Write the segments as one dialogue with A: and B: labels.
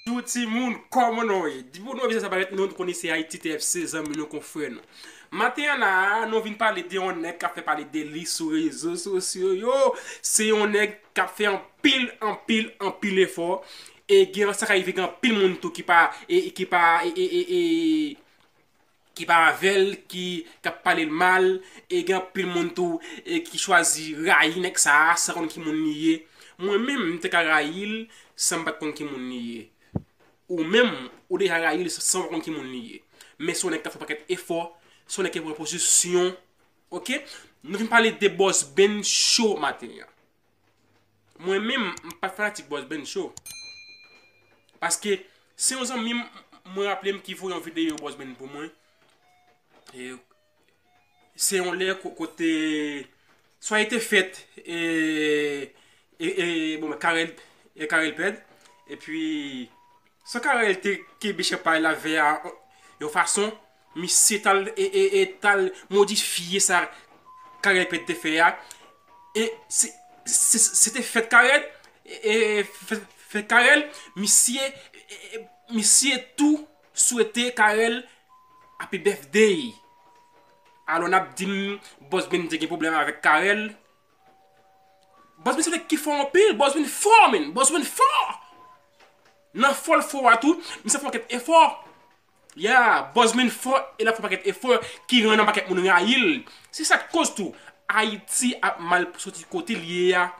A: Tou ti moun koman nou ye? Depi w nan yon biznes ap paret non nou konnen se Haïti TFC zanmi nou konfrè nou. Maten an la a nou vin pale de yon nèg kap fè pale de li sou rezo sosyo yo, se yon nèg kap fè anpil anpil anpil efò e gen sa ka rive gen anpil moun tou ki pa e ki pa e e e e ki pa avèl ki kap palel mal e gen anpil moun tou ki chwazi rayi nèg sa san konn ki moun li ye mwen menm m te ka rayil sanm pat konn ki moun li ye ou menm ou deja rayil sanw pa konn ki moun li ye men son nèg kap fè pakèt efò son nèg ki pran pozisyon ok nou vin pale de bòs Ben cho maten an. Mwen menm m pa fanatik Boss Ben Show. Paske se yon zanmi m mwen raple m ki voye yon videyo Boss Ben pou mwen. E se yon lè kote soye te fèt e e bon mwen Karel e Karel Pèd. E pi san Karel te kebe chèpay la vè a yon fason Misye tal tal modifye sa Carel Pèt te fè a e se te fèt Carel e fèt Carel misye misye tou swete Carel Happy Birthday alò nap dim Boss Beny te gen pwoblèm avèk Carel Boss Beny se nèg ki fò anpil Boss Beny fò men Boss Beny fò nan fòl fò a tou misye fè yon pakèt efò Yeah, Buzmin fò e l ap fè pakèt efò ki rann an pakèt moun rayi l. Se sa k koz tou Ayiti ap mal soti kote l ye a.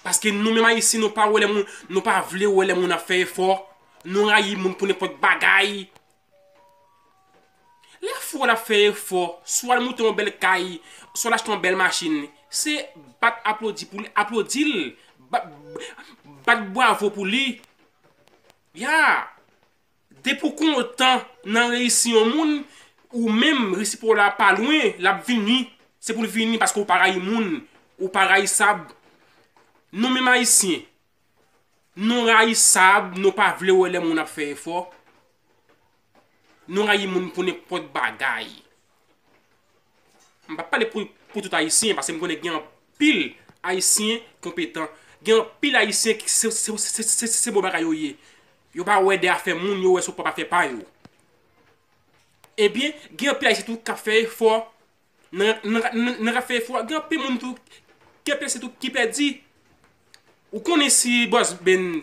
A: Paske nou menm Ayisyen nou pa wè lè moun, nou pa vle wè lè moun ap fè efò. Nou rayi moun pou nenpòt bagay. Lè frè w la ap fè efò, swa l moute yon bèl kay, swa l achte yon bèl machin, se bat aplodi pou li, aplodi l, bat bwavo pou li. Ya! Depi w kontan nan reyisi yon moun, ou menm reyisi pa w la pa lwen, l ap vini. Se pou l vini paske ou pa rayi moun, ou pa rayisab. Nou menm Ayisyen, nou rayisab, nou pa vle wè lè moun ap fè efò. Nou rayi moun pou nenpòt bagay. M pa pale pou pou tout ayisyen paske m konnen gen anpil ayisyen konpetan. Gen anpil ayisyen ki se se se se se bon bagay yo ye. Yo pa wè de afè moun, yo wè sou pwòp afè pa yo. Ebyen, gen anpil ayisyen tou k ap fè efò Nan ka fè efò a gen anpil moun tou ke blese tou ki pèdi. Ou konnen si Boss Ben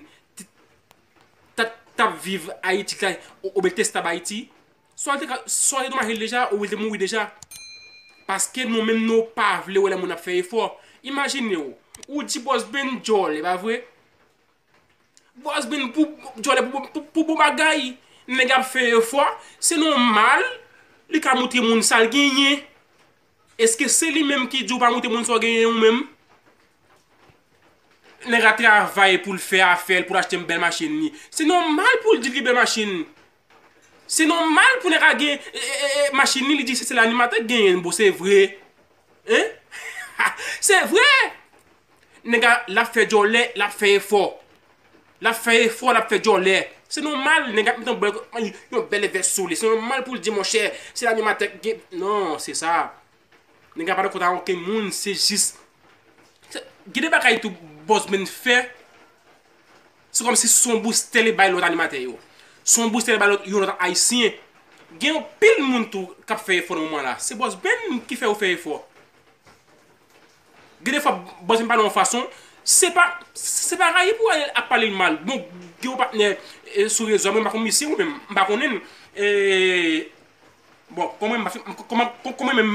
A: tap viv Ayiti kay oubyen li te stab Ayiti, swa li te domaje deja oubyen li te mouri deja. Paske nou menm nou pa vle wè lè moun ap fè efò. Imajine ou, ou di Boss Ben djòl, e pa vre? Bòs bin pou djòlè pou bon bagay Nèg ap fè efò Se nòmal li ka moutre moun sa l genyen Èske se li menm ki di w pa moutre moun sa w genyen ou menm Nèg la travay pou l fè afè l pou l achte yon bèl machin li Se nòmal pou l di l gen bèl machin Se nòmal pou nèg a gen machin li, li di se sèl animatè ki genyen l bro, se vre hein Se vre! Nèg a lap fè djòlè, lap fè efò Lap fè efò, lap fè djòlè Se nòmal nèg a ap meton bèl yon bèl vès sou li, se nòmal pou l di monchè se l animatè ki gen, non se sa Nèg la pa nan kont a okenn moun se jis gen de bagay tou Boss Ben fè se kòm si son boustè li bay lòt animatè yo son boustè li bay lòt yon lòt ayisyen gen anpil moun tou k ap fè efò nan moman la se Boss Ben ki fè yo fè efò gen de fwa Boss Ben pale yon fason se pa se pa rayi pou al ap pale l mal bon gen yon patnè sou rezo a mwen m pa konn misye ou menm m pa konnen l e Bon, kon mwen m pa fin, kon mwen, kon mwen menm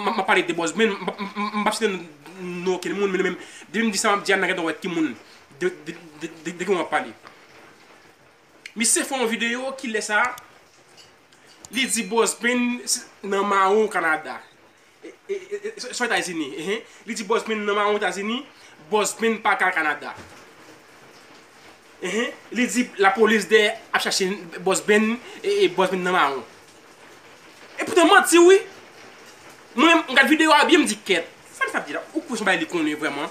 A: m ap pale de bòz mwen, m pap site non okenn moun, men nou menm, depi m di sa m ap di a, n a gentan wè ki moun, de, de ki moun m ap pale. Misye fè yon videyo, kilè sa, li di bòz mwen nan mawon Kanada. Sou etazini ehe li di bòs min nan maron etazini bòs min pa ka al kanada ehe li di la polis dè ap chache bòs bin e bòs min nan maron e poutan manti wi mwen m gad video a byen m di kèt sa misye ap di la ou kwè son bagay li konnen vrèman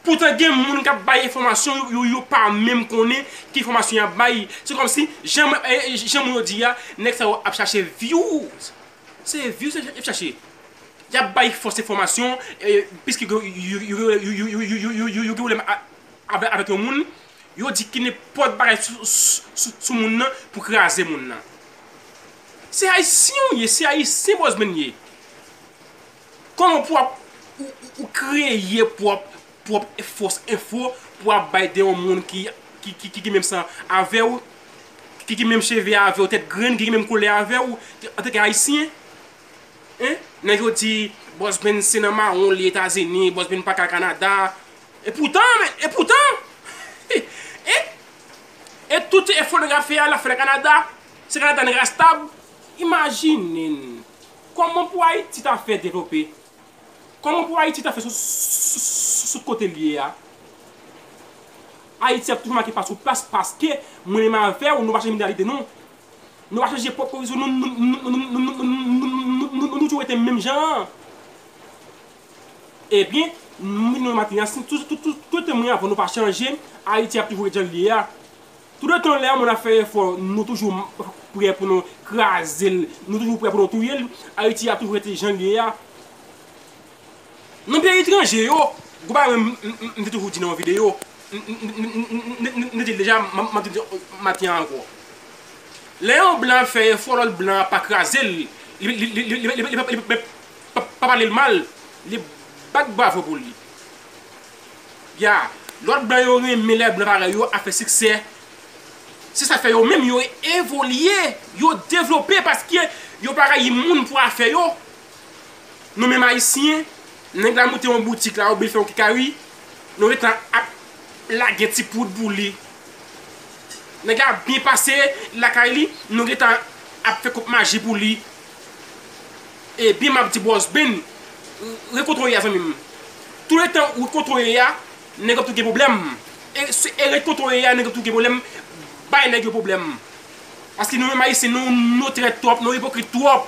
A: poutan gen moun kap bay enfòmasyon yo yo pa menm konnen ki enfòmasyon yap bay se kòmsi jan moun yo di a nèg sa yo ap chache vyouz Se views yo ap chache. Yap bay fos enfomasyon piske yo gen pwoblem avek yon moun yo di ki nenpot bagay sou moun nan pou kraze moun nan. Se ayisyen ou ye se ayisyen bosben ye. Koman pou ap ou kreye pwòp pwòp fos enfo pou ap bay de yon moun ki ki menm san avew, ki ki menm cheve avew, tèt grenn, ki ki menm koulè avew, antanke ayisyen? Hein? Nèg yo di Boss Ben se nan mawon li Etazini, Boss Ben pa ka Kanada. E poutan men, e poutan! Hein? E tout efo nèg ap fè a lap fèl Kanada? Se Kanada nèg ap stab? Imajine n! Koman pou Ayiti ta fè devlope? Koman pou Ayiti ta fè sot kote li ye a? Ayiti ap toujou make pa sou plas paske mwen menm avèw nou pa chanje mantalite nou. Nou pa chanje pwòp orizon nou, nou toujou rete menm jan an. Ebyen, mwen menm maten an si tout tan mwen avèw nou pa chanje, Ayiti ap toujou ret jan li ye a. Toutotan lè yon moun ap fè efò nou toujou prè pou nou kraze l, nou toujou prè pou nou touye l, Ayiti ap toujou rete jan l ye a. Nan peyi etranje yo, gwo bagay mwen m te toujou di nan yon videyo, m te di l deja m ap di l maten an ankò. Lè yon blan ap fè efò lòt blan an pa kraze l, li pa pale l mal, li bat bravo pou li. Ya, lòt blan yo renmen lè blan parèy yo ap fè siksè. Se sa k fè yo menm yo evolye, yo devlope paske yo pa rayi moun pou afè yo. Nou menm Ayisyen, nèg la moute yon boutik la oubyen l fè yon kekari, nou gen tan ap lage ti poud pou li. Nèg la ap byen pase lakay li, nou gen tan ap fè kout maji pou li. E byen map di broh Sbin re kontrole ya zanmim tou le tan ou kontrole ya neg yo ap tou gen problem e re kontrole ya neg yo tou gen problem bay neg yo problem paske nou menm ayisyen nou trèt trop nou ipokrit trop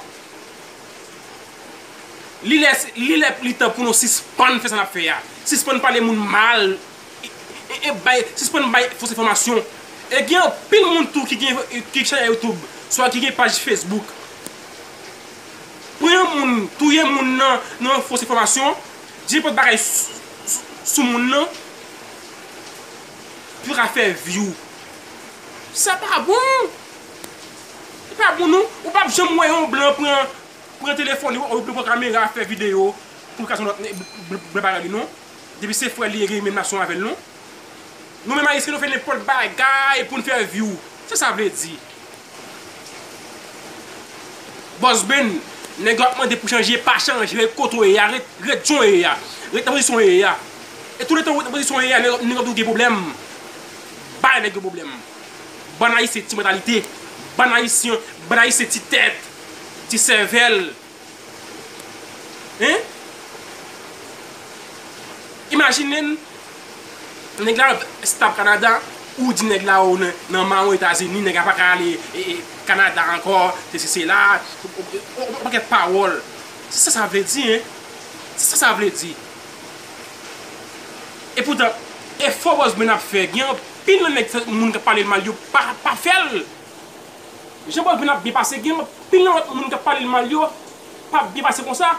A: li lè li lè li tan pou nou sispann fè sa nap fè ya sispann pale moun mal e bay sispann bay fos enfomasyon e gen anpil moun tou ki gen ki chanèl youtube swa ki gen paj facebook. Pran yon moun touye moun nan nan yon fos enfòmasyon di nenpòt bagay sou moun nan pou yo ka fè view sa pa bon li pa bon non ou pap janm wè yon blan pran telefòn li oubyen pran kamera fè video pou l ka di yon lòt blan pa wè li non depi se frè l li gen menm nasyon avè l non. Nou menm ayisyen nou fè nenpòt bagay poun fè view sa sa vle di Boss Ben nèg yo ap mande pou chanje pa chanje ret kote w ye a ret ret jan w ye a ret nan pozisyon w ye a e tou le tan ou ret nan pozisyon w ye a nèg yo ap toujou gen pwoblèm bay nèg yo pwoblèm bann ayisyen ti mantalite bann ayisyen bann ayisyen ti tèt ti sèvèl. Hein Imajine nèg la stop Canada ou di nèg la ou nan maron Etazini nèg la paka ale Canada ankò sesi sela yon pakèt pawòl se sa sa vle di hein se sa sa vle di e poutan efò Bosben ap fè gen anpil nan nèg moun kap pale l mal yo pa fè l. Jan Baldwin ap byen pase gen anpil nan lòt moun kap palel mal yo pap byen pase konsa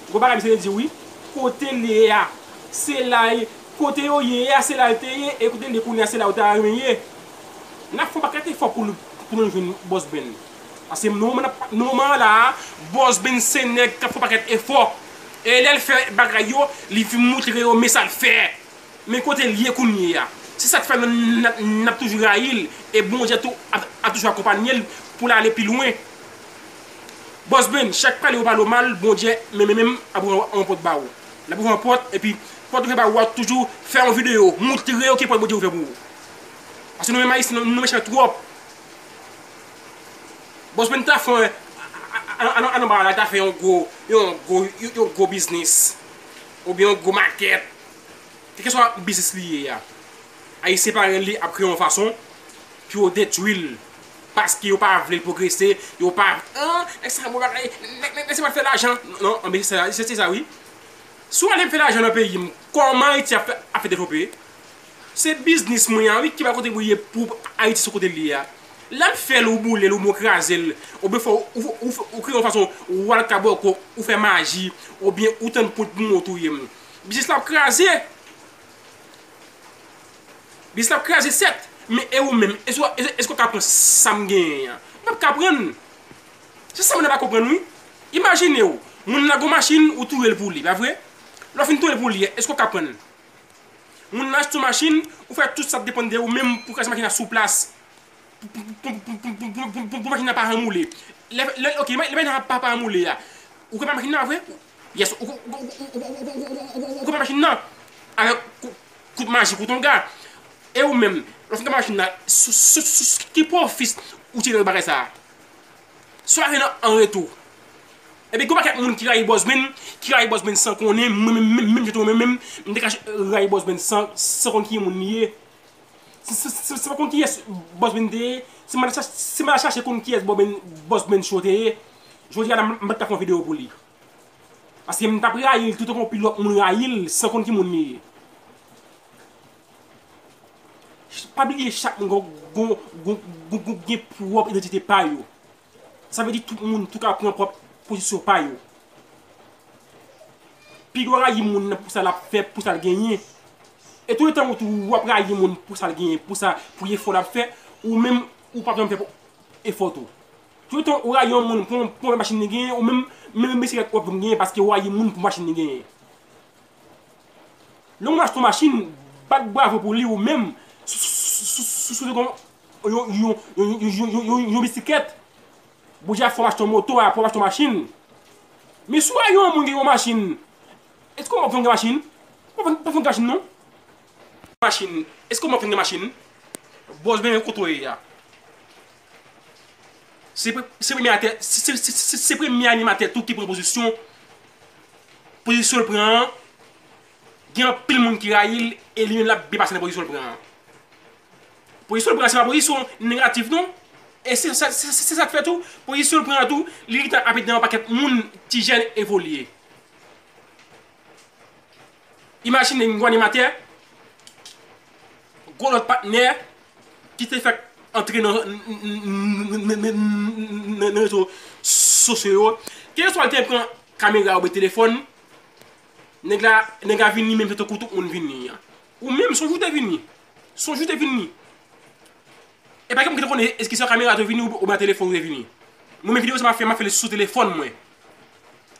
A: gwo bagay misye te di wi kote l ye a se la l kote yo ye a se la l te ye e kote l ye kounye a se la yo ta renmen ye nap fè yon pakèt efò pou nou jwenn Boss Ben paske nan moman nap nan moman an la a Boss Ben se nèg kap fè yon pakèt efò e lè l fè bagay yo li fi moutre yo men sa l fè. Men kote l ye kounyeya. Se sa k fè n ap toujou rayi l e Bondye tou ap toujou akonpanye l pou l ale pi lwen. Bòs Ben, chak pale ou pale w mal, Bondye menm menm ap ouvri yon pòt ba ou. L ap ouvri yon pòt epi pòt l ouvè ba ou a toujou fè yon videyo montre yo ki pòt Bondye ouvè pou ou. Paske nou menm Ayisyen nou mechan twòp. Bòs Ben ta fè al anba la l ta fè yon gwo yon gwo biznis oubyen yon gwo makèt. Kèlkeswa biznis li ye a, Ayisyen parèy li ap kreye yon fason pou yo detwi l paske yo pa vle l pwogrese, yo pa vle, an, nèg sa bon bagay, nèg sa pral fè lajan. Non, anbese sa, se sa wi. Si w ale fè lajan nan peyi m, kòman Ayiti ap fè devlope? Se biznis mwen an wi ki pral kontribiye pou Ayiti sou kote l ye a. Lè m fè l, ou boule l, oubyen ou kraze l, oubyen ou kreye yon fason ou al kabòkò, ou fè maji, oubyen ou tann poud pou moun touye m. Biznis la ap kraze. Biznis la ap kraze sèt. Men e ou menm? Eske ou ka pran sa m genyen an? Ou pap ka pran. Se sa moun nan pa konprann wi. Imajine ou, moun nan gen yon machin, ou touye l pou li, pa vre? Lè ou fin touye l pou li a, eske ou ka pran? Moun nan achte yon machin, ou fè tout sa k depann de ou menm pou kraze machin nan sou plas. Pou machin nan pa ranmoule. Lè, ok, lè machin nan pa ranmoule a, ou ka pran machin nan, pa vre? Yes ou konpè machin nan avèk kout majik ou ton ga E ou menm lè fin konpè machin nan sou ki pwofis ou tire nan bagay sa a Sa w gen an retou Epi gen yon pakèt moun ki rayi Bosben ki rayi Bosben san konnen mwen menm jan tou mwen menm m te ka rayi Bosben san konn ki moun li ye Se pa konn kiyès Boss Ben te ye, se m al chache konn kiyès Boss Ben Show te ye, jodi a la m pa t ka fè yon videyo pou li. Paske m t ap rayi l toutotan yon pil lòt moun rayi l san konn ki moun li ye. Pa bliye chak moun gen pwòp idantite pa yo. Sa vle di tout moun tou ka pran pwòp pozisyon pa yo. Piga w rayi moun nan pou sa l ap fè, pou sa l genyen. E tou etan ou tou ou ap rayi moun pou sa l genyen, pou sa, pou efò l ap fè, ou menm ou p ap janm fè efò tou. Tou etan ou rayi yon moun pou yon machin li genyen, ou menm, menm bisiklèt ou ap janm genyen paske ou rayi moun pou machin li genyen. Lè yon moun achte yon machin, bat bravo pou li ou menm, si w te gen yon. yon bisikèt, bon Dye a fè w achte yon moto, apre w achte yon machin. Men si w wè yon moun gen yon machin, èske w pa ap vle gen machin? Ou pa ap vle gen machin non. Machin, èske w pa ap vle gen machin? Bòs benyen kote w ye a? Se premye atè, se premye animatè tou ki pran pozisyon, pozisyon l pran an, gen anpil moun ki rayi l, e li menm l ap byen pase nan pozisyon l pran an. Pozisyon l pran an se pa pozisyon negatif non e se sa k fè tou pozisyon l pran an tou li gentan ap ede yon pakèt moun ti jèn evolye. Imajine yon gwo animatè gwo lòt patnè ki te fèk antre nan rezo sosyo yo kèlkeswa l te pran kamera oubyen telefòn nèg la vini menm jan tankou tout moun vini an. Ou menm sonj ou te vini. Sonj ou te vini. E pa gen moun ki te konnen eske se yon kamera te vini oubyen telefòn ou te vini. Mwen menm videyo sa map fè map fè li sou telefòn mwen.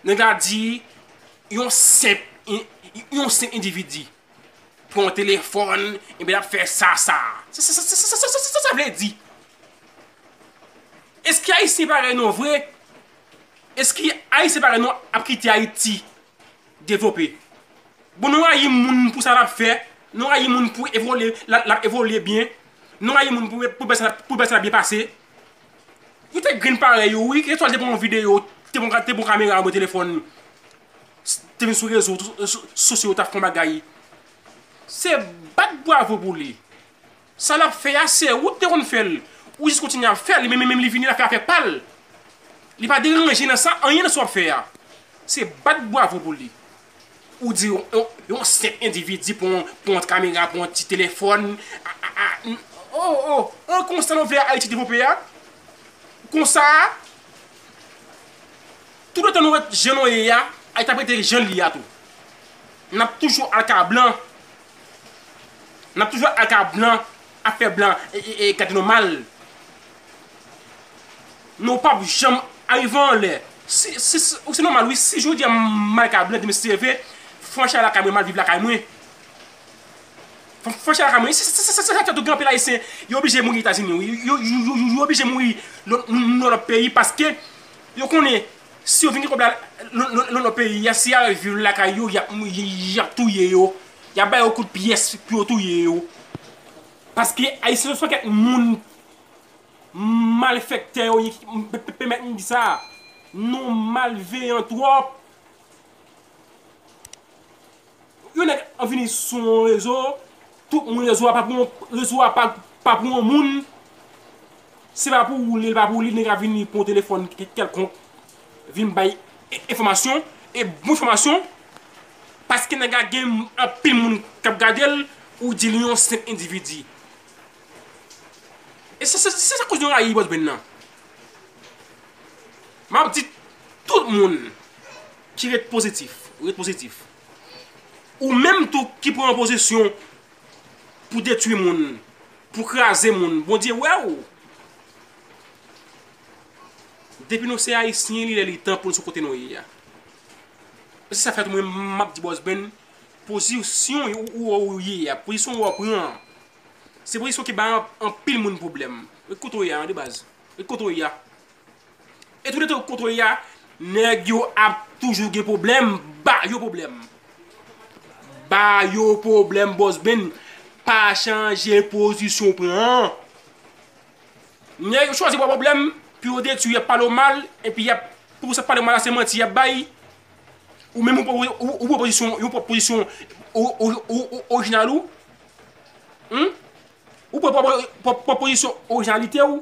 A: Nèg la di yon senp yon senp endividi pran yon telefòn epi lap fè sa sa. Sa sa sa sa sa vle di. Eske ayisyen parèy nou vre? Eske ayisyen parèy nou ap kite ayiti? Devlope. Bon nou rayi moun pou sa lap fè, nou rayi moun pou evolye lap evolye byen, nou rayi moun pou bèsa lap byen pase. Ou te grenn parèy ou wi, etwal te pran yon video, te pran kamera mwen telefòn li. Te vin sou rezo sosyo tap fon bagay. Se bat bwavo pou li. Sa lap fè a se ou ki te konn fèl ou jis kontinye ap fèl li menm li vini la fè afè pal li pa deranje nan sa anyen nan sa wap fè a se bat bwavo pou li ou di yon senp endividi pou yon ti kamera pou yon ti telefòn oh oh an konsa nou vle ayiti devlope a konsa tout le tan nou ret jan nou ye a ayiti ap rete jan li a tou nap toujou al ka blan Nap toujou al ka blan ap fè blan gade nou mal. Nou pap janm arive an lè. Ou se nòmal wi si jodi a m al ka blan di mesye leve fon chay lakay mwen mal viv lakay mwen. Fon chay lakay mwen se sa ki fè gen anpil ayisyen yo oblije mouri etazini wi yo oblije mouri nan lòt peyi paske yo konnen Si yo vin gen kob la nan nan peyi a si ya al viv lakay yo yap yap touye yo yap ba yo kout pyès pou yo touye yo paske ayisyen son pakèt moun malfèktè yo ye pèmèt m di sa nou malveyan twòp. Yon nèg ap vini sou yon rezo, tout moun rezo a pa pou yon, rezo a pa pou yon moun, se pa pou ou li, li pa pou ou li, nèg la vini li pran yon telefòn kèlkonk, vin bay enfòmasyon, e bon enfòmasyon, paske nèg la gen anpil moun k ap gade l, ou di li yon senp endividi. E se sa k koz nou rayi Bòzbèn nan. M ap di tout moun. Ki ret pozitif, ret pozitif. Ou menm tou ki pran an pozisyon pou detwi moun, pou kraze moun, Bondye wè ou. Depi nou se ayisyen li lè li tan pou nou sou kote nou ye a. Se sa k fè tou mwen menm m ap di Bòs Ben, pozisyon ou wè ou ye a, pozisyon ou wè ou pran an, se pozisyon ki bay anpil moun pwoblèm. Ret kote ou ye a de baz, ret kote ou ye a. E tout etan ou kontrole ya, nèg yo ap toujou gen pwoblèm, ba yo pwoblèm. Ba yo pwoblèm Boss Ben, pa chanje pozisyon w pran an. Nèg yo chwazi ba w pwoblèm pou yo detwi w, y ap pale w mal, epi y ap, pou sa pale w mal la se manti y ap bay, ou menm ou pran pozisyon, yon pwòp pozisyon orijinal ou, ou pran pwòp pozisyon orijinalite ou.